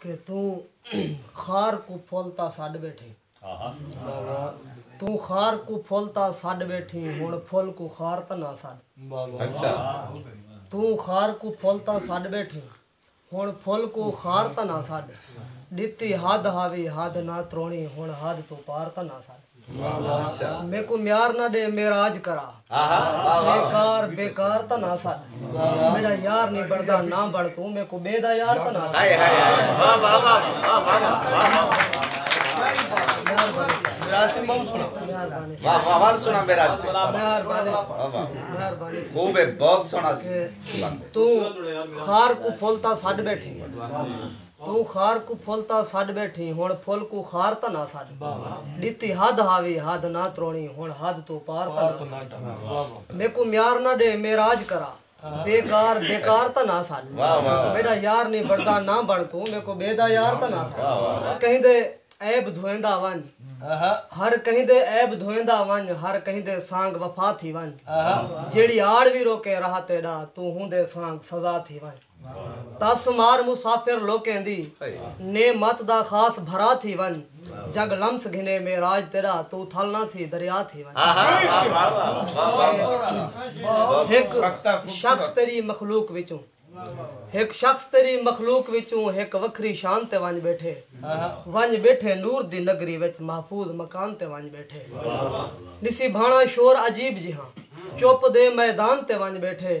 کہ توں خار کوں پھل تاں سݙ ٻیٹھیں۔ توں خار کوں پھل تاں سݙ ٻیٹھیں ہݨ پھل کوں خار تاں نہ سݙ۔ توں خار کوں پھل تاں سݙ ٻیٹھیں ہݨ پھل کوں خار تاں نہ سݙ۔ ݙتی حد ہاوی حد نہ تروڑیں ہݨ حد توں پار تاں نہ سݙ۔ میکوں نیار نہ ݙے معراج کرا بے کار بے کار تاں نہ سٹ میݙا یار نی بݨدا نہ بݨ توں میکوں ٻئے دا یار تاں نہ سٹ توں خار کوں پھل تاں سٹ ٻیٹھیں توں خار کوں پھل تاں سݙ ٻیٹھیں ہݨ پھل کوں خار تاں نہ سݙ ݙتی حد ہاوی حد نہ تروڑیں ہݨ حد توں پار تاں نہ سݙ میکوں میار نہ ݙے معراج کرا بے کار بے کار تاں نہ سݙ میݙا یار نی بݨدا نہ بݨ توں میکوں ٻئے دا یار تاں نہ سݙ ہر کہیں دے عیب دھویندا ونڄ ہر کہیں دے عیب دھویندا ونڄ ہر کہیں دے سانڳ وفا تھی ونڄ جیڑھی آڑ وی روکے راہ تیݙا توں ہوندے سانڳ سزا تھی ونڄ۔ تس مار مسافر لوکیں دی نعمت دا خاص بھرا تھی ونج جگ لمس گھنے معراج تیڈا توں تھل نہ تھی دریا تھی ونج ہک شخص تیڈی مخلوق وچوں ہک شخص تیڈی مخلوق وچوں ہک وکھری شان تے ونج بیٹھے ونج بیٹھے نور دی نگری وچ محفوظ مکان تے ونج بیٹھے نسیبھانا شور عجیب جہاں چپ دے میدان تے ونج بیٹھے۔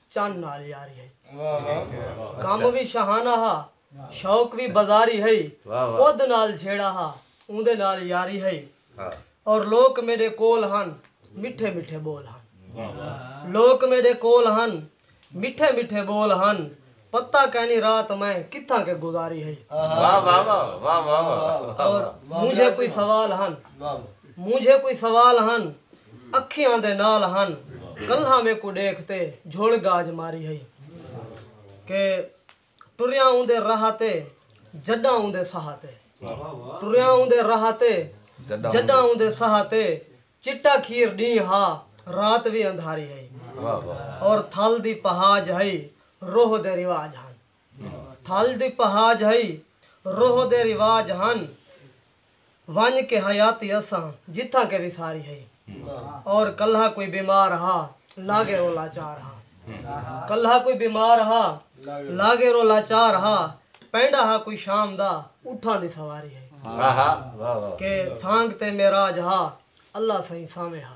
چن نال یاری ہئی۔ کم وی شاہانہ ہا، شوق وی بازاری ہئی۔ خود نال جھیڑا ہا، اوندے نال یاری ہئی۔ اور لوک میڈے کول ہن، مٹھے مٹھے بول ہن۔ لوک میڈے کول ہن، مٹھے مٹھے بول ہن۔ پتہ کینی رات میں کتھاں کے گزاری ہئی۔ اور مونجھے کوئی سوال ہن۔ مونجھے کوئی سوال ہن۔ اکھیاں دے نال ہن کلھا میکوں ڈیکھ تے جھڑ گاج ماری ہئی کہ ٹریاں اوندے راہ تے جڈاں اوندے ساہ تے ٹریاں اوندے راہ تے جڈاں اوندے ساہ تے چٹا کھیر ڈینہہ ہا رات وی اندھاری ہئی اور تھل دی پہاج ہئی روہ دے رواج ہن تھل دی پہاج ہئی روہ دے رواج ہن۔ ونڄ کے حیاتی اساں جتھاں کے وساری ہئی اور کلہا کوئی بیمار ہا لاگے رو لاچار ہا کلہا کوئی بیمار ہا لاگے رو لاچار ہا پینڈا ہا کوئی شام دا اٹھاں دی سواری ہئی کہ سانگ تے معراج ہا اللہ سئیں سامے ہا